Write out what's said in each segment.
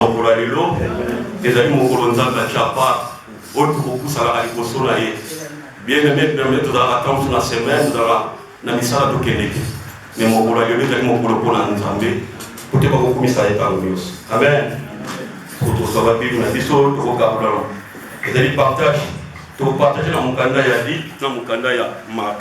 mokolo ya lelo ezali mokolo nzambe ya chapa oyo tokopusanaka liboso na ye bien aimé pembe tozalaka ntango na semaine tozalaka na misala tokendeke me mokolo ya lelo ezali mokolo mpo na nzambe po te bakokumisa ye ntango nyonso amen tozwa babible na biso tokokabolana ezali partage tokopartage na mokanda ya lit na mokanda ya mark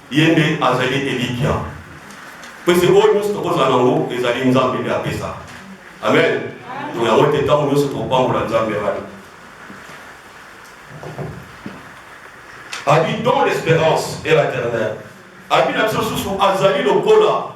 Ye nde azali elikia. Mpese oyo nyonso tokozala na yango ezali Nzambe nde apesa. Amen. Mpo yango ete ntango nyonso topambola Nzambe wana. Abi don l'espérance et la terre-mère. Abi na biso susu azali lokola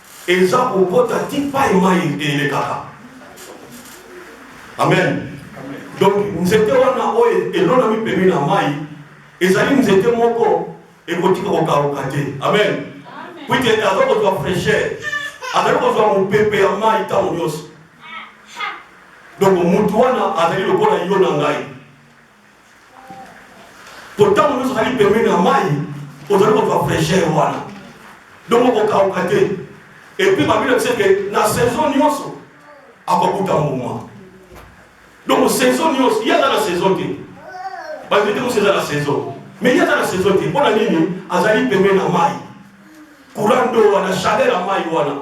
Eza kokota ti pai mai elekaka. Amen. Donc nzete wana oyo elonami pembeni na mai ezali nzete moko ekotika kokauka te. Amen. Kuite aza kozwa fraîcheur, azali kozwa mopepe ya mai ntango nyonso. Donc motu wana azali lokola yo na ngai. Mpo ntango nyonso ozali pembeni ya mai, ozali kozwa fraîcheur wana, donc okokauka te. Epuis babili biso ete na saison nyonso akokuta mbuma, donc saison nyonso ye aza na saison te, bayebi te mosi eza na saison mais ye aza na saison te. Mpo na nini? Azali pembeni na mai, courant d'eau wana, chaleur ya mai wana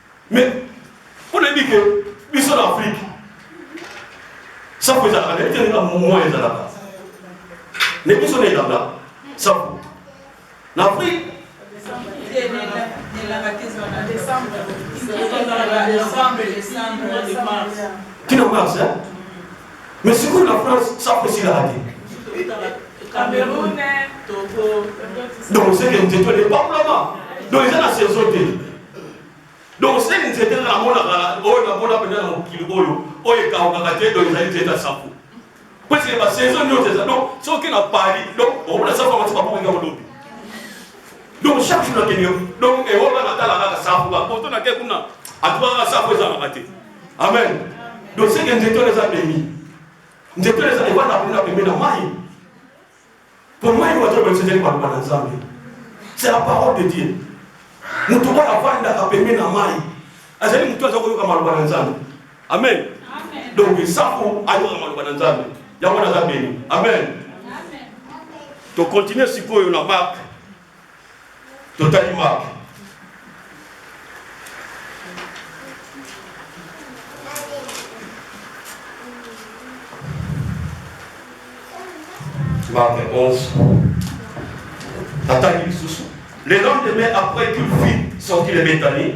Mais on a dit que biso na Afrique safu ezalaka nayebi te na momoya ezalaka na biso na elanga safu na Afrique tina mars mais sikoyo na france safu esilaka te donc oseke nzeto epakolama donc eza na saison te donc seni nzete namonaka oyo namona mpenza na mokili oyo oyo ekawukaka te donc ezali nzete ya safu parce que basaison nyonso eza donc soki na paris donc omona safu yango soki babuka yango lobi donc chaque jour nakende donc ewoka natala kaka safu bapoto nake kuna atuka kaka safu ezangaka te amen donc seke nzete oyo eza beni nzete oyo eza ebanda kuna pembe na mai Pour moi, il doit se faire par Nzambe. C'est la parole de Dieu. Mutu oyo avandaka pembeni na mai azali mutu aza koyoka maloba na Nzambe. Amen. Donc esafu ayoka maloba na Nzambe. Yango naza beni. Amen. To continuer sikoyo na Mark totali marke marke 11 atangi lisusu le lendemain après qu'une fille sorti le betanie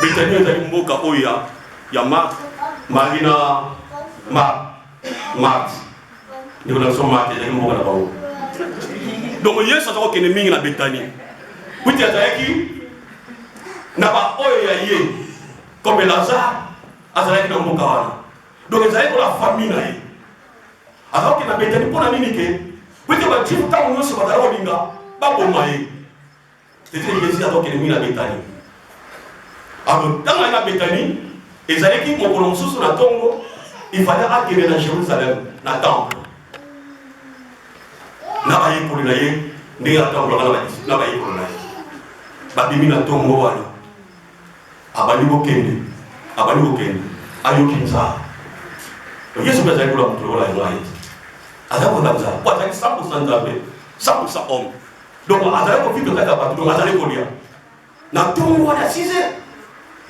Betania ezali mboka oyo ya, ya Marthe, Marie na Marthe. Marthe. Ndeko na biso Marthe ezalaki mboka na bango. Donc Yesu aza kokende mingi na Betania. Kuti azalaki na baoyo ya ye comme Lazare azalaki na mboka wana. Donc ezalaki kola famille na ye. Aza kokende na Betania mpo na nini ke? Kuti bajifu ntango nyonso bazalaki kolinga baboma ye. Tete Yezu azokende mingi na Betani. Alors, ntango aye na Betani, ezalaki mokolo mosusu na ntongo, ifale akende na Jerusalem, na temple, na bayekoli na ye, ndenge atambolaka na bayekoli na ye. Babimi na ntongo wana, abandi kokende, abandi kokende, ayoki nzala. Yesu mpe azali koloba moto lokola yango aye, azali kozala nzala, po azali 100 nzambe, 100 homme donc azali kovivre kati ya bato donc azali kolia na ntongo wana ya 6 heures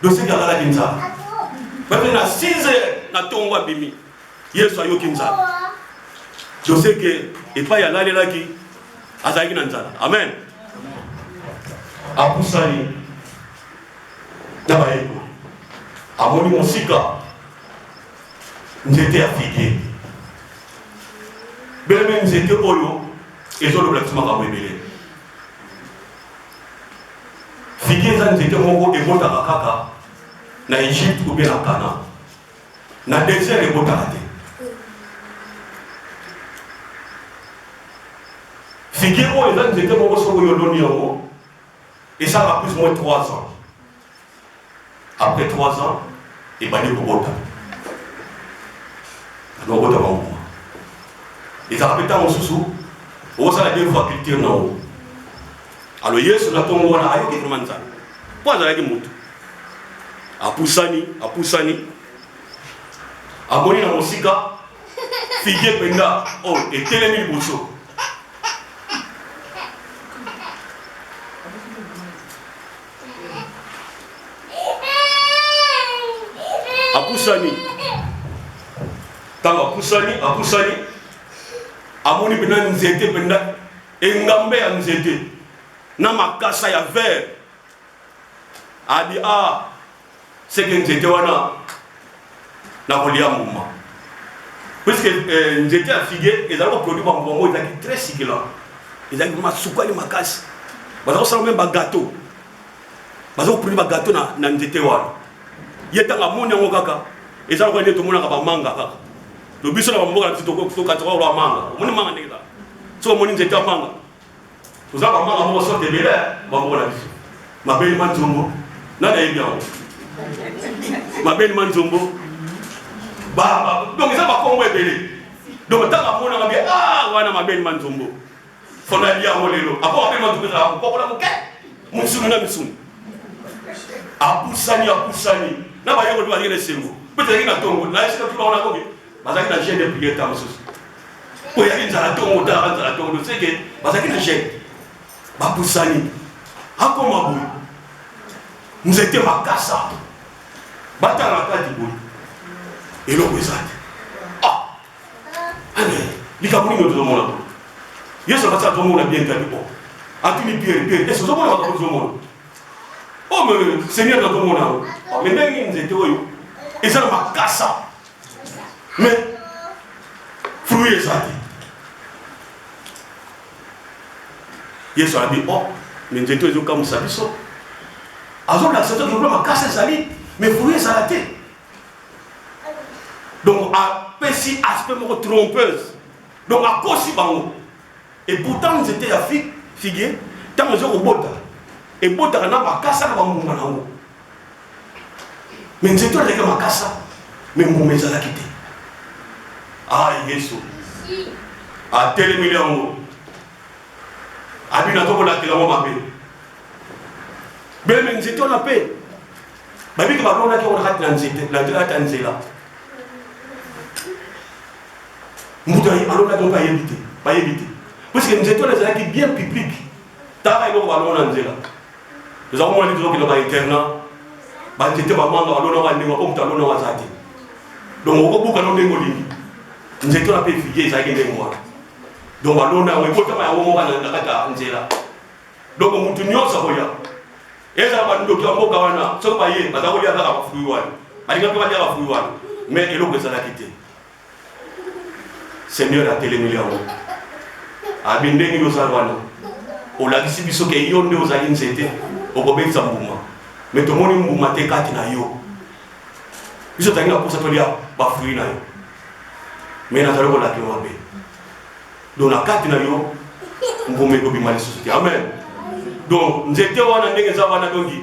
doseki alalaki nzambe bato na 6 heures na ntongo abimi yesu ayoki nzambe doseke epai alalelaki azalaki na nzala amen apusani na bayekoli amoni mosika nzete ya fige beme nzete oyo ezo loba biso makambo ebele figi eza nzete moko ebotaka kaka na egypte obe na kana na desert ebotaka te figi oyo eza nzete moko soki oyo oloni yango esalaka plus moins 3 ans Après trois ans, ebandi kobota. Bando kobota ba mbuma. Ezalaka mpe ntango mosusu okosala deux fois culture na yango. Alo Yesu na ntongo wana ayoki vraiment Nzambe mpo azalaki moto. Apusani, apusani, amoni na mosika fige mpenza oyo oh, etelemi liboso apusani ntango apusani apusani amoni mpenza nzete mpenza engambe ya nzete na makasa ya vere abi a ah, seke nzete wana na kolia mbuma puisque euh, nzete ya figue ezali koproduire bambuma moko ezalaki très succulant ezalaki masukali makasi baza kosala meme bagateau baza koproduire bagateau na, na nzete wana ye ntango amoni yango kaka eza lokola nde tomonaka bamanga kaka to biso na bamboka na biso tokataka oloa manga omoni manga ndenge ezala soki omoni nzete ya manga Oza ba mama moko sorte ebele ba moko na biso. Mabeli ma nzombo na na yebi yango. Mabeli ma nzombo ba ba donc eza ba kombo ebele. Donc tanga mona ba ah wana mabeli ma nzombo. Fona lia yango lelo. Apo mabeli ma nzombo za ko kola moke. Musuni na misuni. Apusani apusani na ba yoko ba yele sengo. Peut-être na tongo na esika tu ba ona ko bazalaki na gene ya priere ntango mosusu mpo eyaki nzala ntongo talaka nzala ntongo doseke bazalaki na gene bapusani akoma boye nzete makasa batala na kati boye eloko eza te ah! likambo nini tozomona boye yesu abasi azomona bien kadi o atuni piere piere esi ozomona makambo tozomona o oh, me seigneur nazomona yango me ndenge nzete oyo eza na makasa mais fruit eza te yesu abi o oh, me nzeto ezokamwisa biso azolakisa to lokola makasi ezali me fruit ezala te donc apesi aspect moko trompeuse donc akosi bango et pourtant nzete ya figue ntango ezokobota ebotaka na bakasa na bambuma na yango me nzete oyo ezalaki makasa me mbuma ezalaki te ah yesu atelemeli yango abina tokolakela yango mabe beme nzete wana mpe babiki balonaki yango na kati na nzete na kati ya nzela mbutu alonaki yango bayebi te bayebi te puiske nzete wana ezalaki bien publique Tala eloko balona na nzela. Toza komona nini tozokende ba internat. Ba nzete ba manga balona ba ndenge po moto alona waza te. Donc okobuka no ndenge olingi. Nzete na pe figuier ezalaki ndenge wana. Donc balona yango ekotama yango moko na kati ya nzela. Donc moto nyonso akoya. Ezala ba ndoki ya mboka wana soki baye baza kolia kaka ba fruit wana. Balinga pe balia ba fruit wana. Mais eloko ezalaki te. Seigneur atelemeli yango abi ndenge nini ozali wana olakisi biso ke yo nde ozali nzete okobetisa mbuma me tomoni mbuma te kati na yo biso tozali na mposa tolia bafrui na yo me nazali kolaka yo mabe donc na kati na yo mbuma ekobima lisusu te amen donc nzete wana ndenge eza wana donki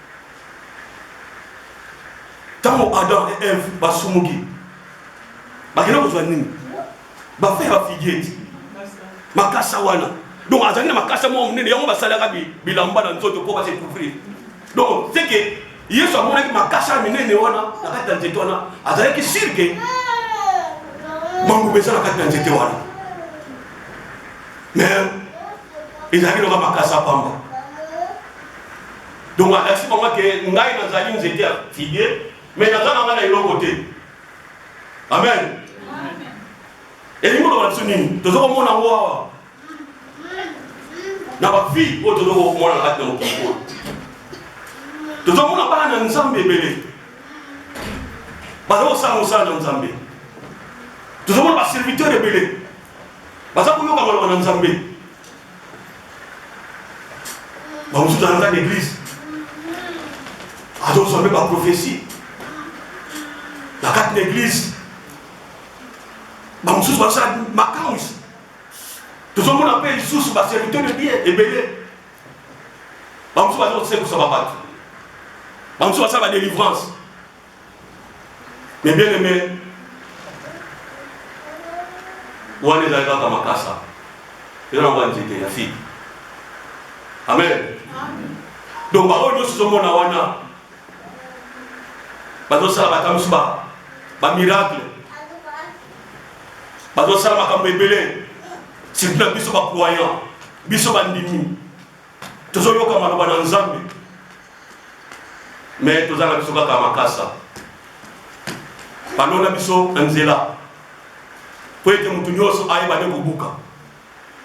ntango adam et eve basumuki bakenda kozwa nini bafe ya bafigieti makasa wana donc azalaki na makasa moko monene yango basalaka bilamba na nzoto mpo base couvrir donc seke yesu amonaki makasa ya minene wana na kati ya nzete wana azalaki sirke manguba eza na kati ya nzete wana mais ezalaki loka makasa pamba Donc alakisi bango ke ngai nazali nzete ya figuier mais naza nanga na eloko te. Amen. Elingi koloba biso nini? Tozo komona yango awa na bafille oyo tozo komona na kati na mokili oyo. Tozo komona bana na Nzambe ebele baza kosala mosala na Nzambe. Tozo komona baserviteur ebele baza koyoka maloba na Nzambe. bamosusu toyangaka na eglise azozwa mpe baprofesi na kati na eglise bamosusu basala makamwisi tozomona mpe lisusu baserviteur de bien ebele bamosusu bazosekusama bato bamosusu basala badelivrance Mais bien aimé, wana ezali kaka makasa eza na wana nzete ya fille amen donc baoyo nyonso ozomona wana bazosala bata mosusu bamiracle bazosala makambo ebele surtout na biso bacroyant biso bandimi Tozo yoka maloba na nzambe mais toza na biso kaka makasa balona biso na nzela mpo ete motu nyonso ayeba nde kobuka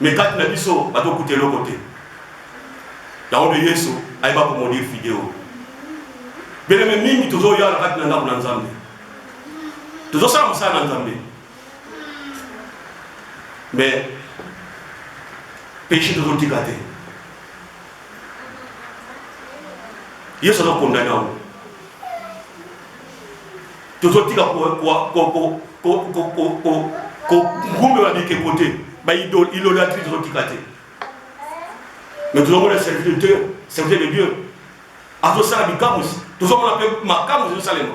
me kati na biso batokuta eloko te yango nde yesu ayeba komodir fideo beleme mingi tozoya na kati na ndako na nzambe tozosala mosala na nzambe mais péché tozotika te yesu azokondane yango tozotika kogumbela bikeko te baidolatrie tozotika te mais tozomona serviteur de dieu serviteur de dieu azosala bikamwisi tozomona mpe makamwisi ezosalema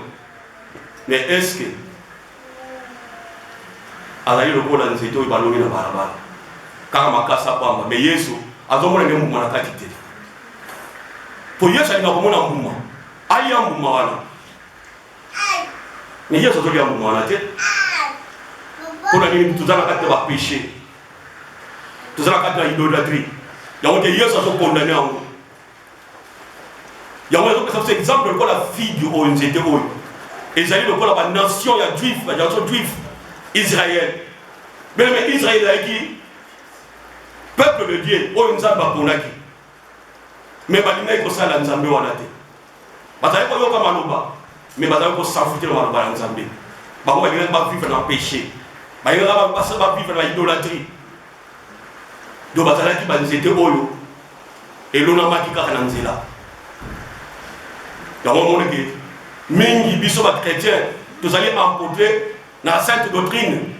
mais est ce que azali lokola nzete oyo baloni na balabala kaka makasa pamba me yesu azomona nde mbuma na kati te mpo yesu alinga komona mbuma alia mbuma wana me yesu azolia mbuma wana te mpo na nini toza na kati na bapeche toza na kati na idolatrie yango te yesu azokondane yango yango ezopesa biso exemple lokola figi oyo nzete oyo ezali lokola banation ya juif banation juif israel meme israel ezalaki peuple de dieu oyo nzambe aponaki me balingaki kosala nzambe wana te bazali koyoka maloba me bazali kosanfute na maloba ya nzambe bango balingaki bavivre na péché balingaka bavivre na idolatrie do bazalaki banzete oyo elonamaki kaka na nzela yango omoneke mingi biso bachrétien tozali empotre na sainte doctrine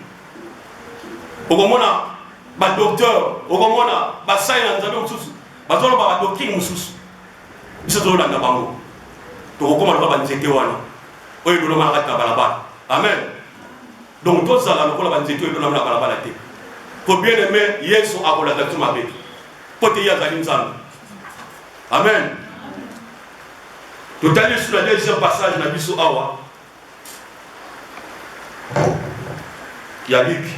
okomona badocteur okomona basali na nzambe mosusu bazoloba badoctrine mosusu biso tozolanda bango tokokoma lokola banzete wana oyo elonama na kati na balabala amen Donc tozala lokola ba nzete oyo elonami na balabala te. Po bien aime Yesu akolanda biso mabe. Po te ye azali Nzambe. Amen. Totali lisusu na deuxième passage na biso awa ya Luke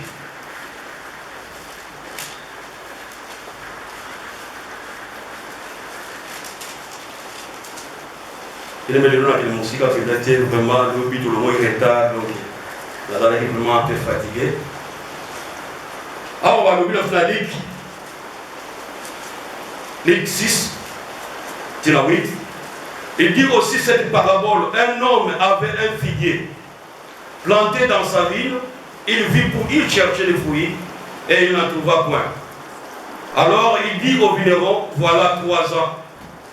elemeli lonakili mosika mpenza te vraiment lobi tolongoi retard donc nazalaki vraiment un peu fatigue awa balobi na fina ligue ligue 6 tina 8 il dit aussi cette parabole un homme avait un figuier planté dans sa ville il vit pour y chercher les fruits et il n'en trouva point alors il dit au vigneron voilà trois ans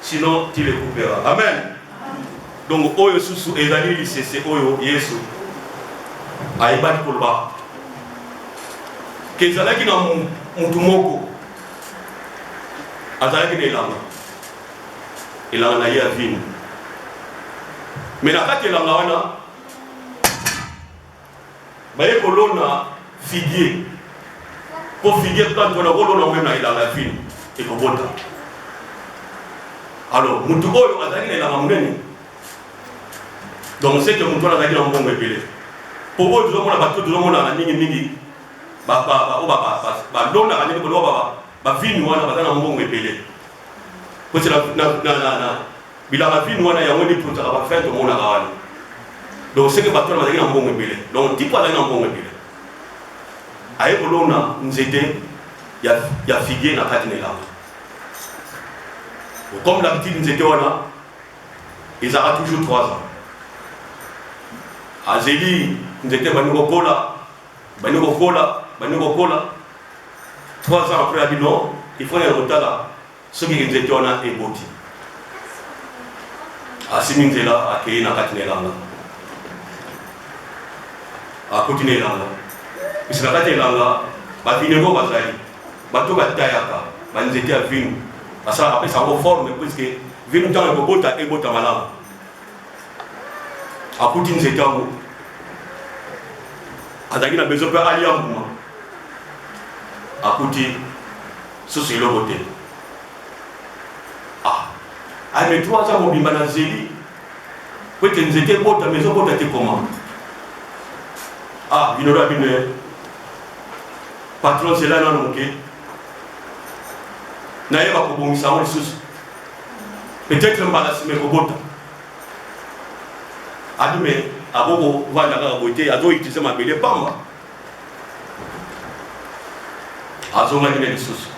Sinon tu le couperas. Amen. Donc oyo susu ezali lisese oyo Yesu ayebaki koloba ke ezalaki na motu moko azalaki na elanga elanga na ye ya vino me na kati elanga wana Baye kolona figuier po figuier plante wana okolona yango meme na elanga ya fini ekobota. Alors mutu oyo azalaki na elanga monene donc c'est que mutu wana azalaki na mbongo ebele po oyo tozomona bato tozomonaka mingi mingi oyo balonaka ndenge koloba bavini wana baza na mbongo ebele Koti na, na, na, na, na bilanga vino wana yango nde epotaka bafin tomonaka wana donc seke bato wana bazalaki na mbongo ebele donc tipo azalaki na mbongo ebele aye kolona nzete ya, ya figie na kati na elanga comme d'habitude nzete wana ezalaka toujours 3 ans azeli nzete ebandi kokola bani kokola bani kokola 3 ans après abi non il faut na kotala soki nzete wana eboti asimi nzela akei na kati na elanga akuti na elanga kasi na kati ya elanga bavineko bazali bato batayaka banzete ya vinu asalaka apesa yango forme puiske vinu ntango ekobota ebota malamu akuti nzete yango azalaki na besoin mpe alia mbuma akuti susu eloko te ah ame to aza mobimba na zeli mpo ete nzete ebota ma ezobota te koma ah bino loya bino eh. patron zela nano moke nayeba kobongisa yango lisusu peut-être mbala sima ekobota adume akoko vanda kaka boye te azo utilize mabele pamba azongaki na lisusu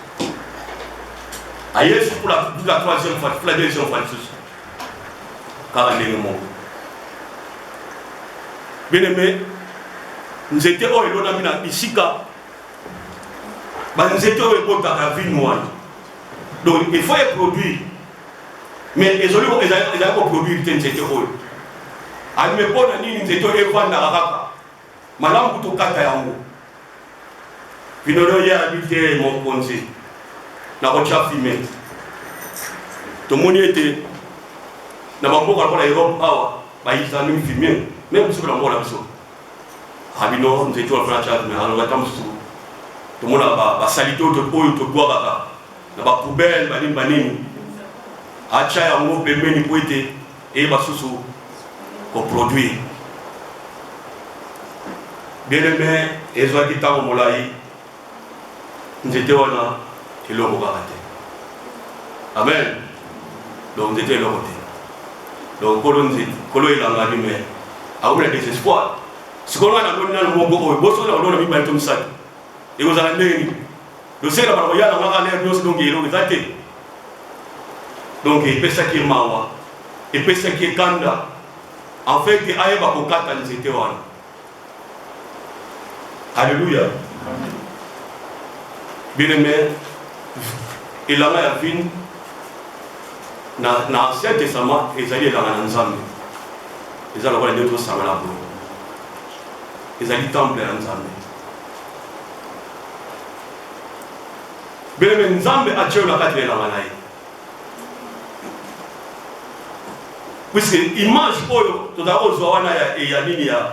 aye lisusu pula la troisième fois pula deuxième fois lisusu kaka ndenge moko bien aimé nzete oyo elonami na bisika banzete oyo ebotaka vino wana donc il faut eproduire mais ezali koproduire te nzete oyo alime mpo na nini nzete oyo evandaka kaka malamu kutokata yango bino leo ye abi te mokonzi nakotya fime tomoni ete na bamboka lokola europe awa bayisani fime meme biso na mboka na biso Rabino Nzetu alobaki na Charles Merano, ngai ntango mosusu tomonaka basalite oyo tobwakaka na bapoubele banini banini, atya yango pembeni mpo ete eyeba susu koproduire. Bien aime, ezwaki ntango molai nzete wana eloko kaka te amen donc nzete eloko te donc kolo nzete kolo elangani me akomi na desespoir sikoyo ngai namoni nano moko oyo bosokona kolona mibale to misato ekozala ndenge nini losenge na bana koya na ngaka lere nyonso donc eloko eza te donc epesaki ye mawa epesaki ye kanda en fait ayeba kokata nzete wana Alléluia. Bien aimé, elanga ya vine na, na ancien testament ezali elanga na nzambe eza lokola nde tosangana boye ezali temple ya nzambe beleme nzambe atyeyo na kati na elanga na ye puisque image oyo tozali kozwa wana ya, ya nini ya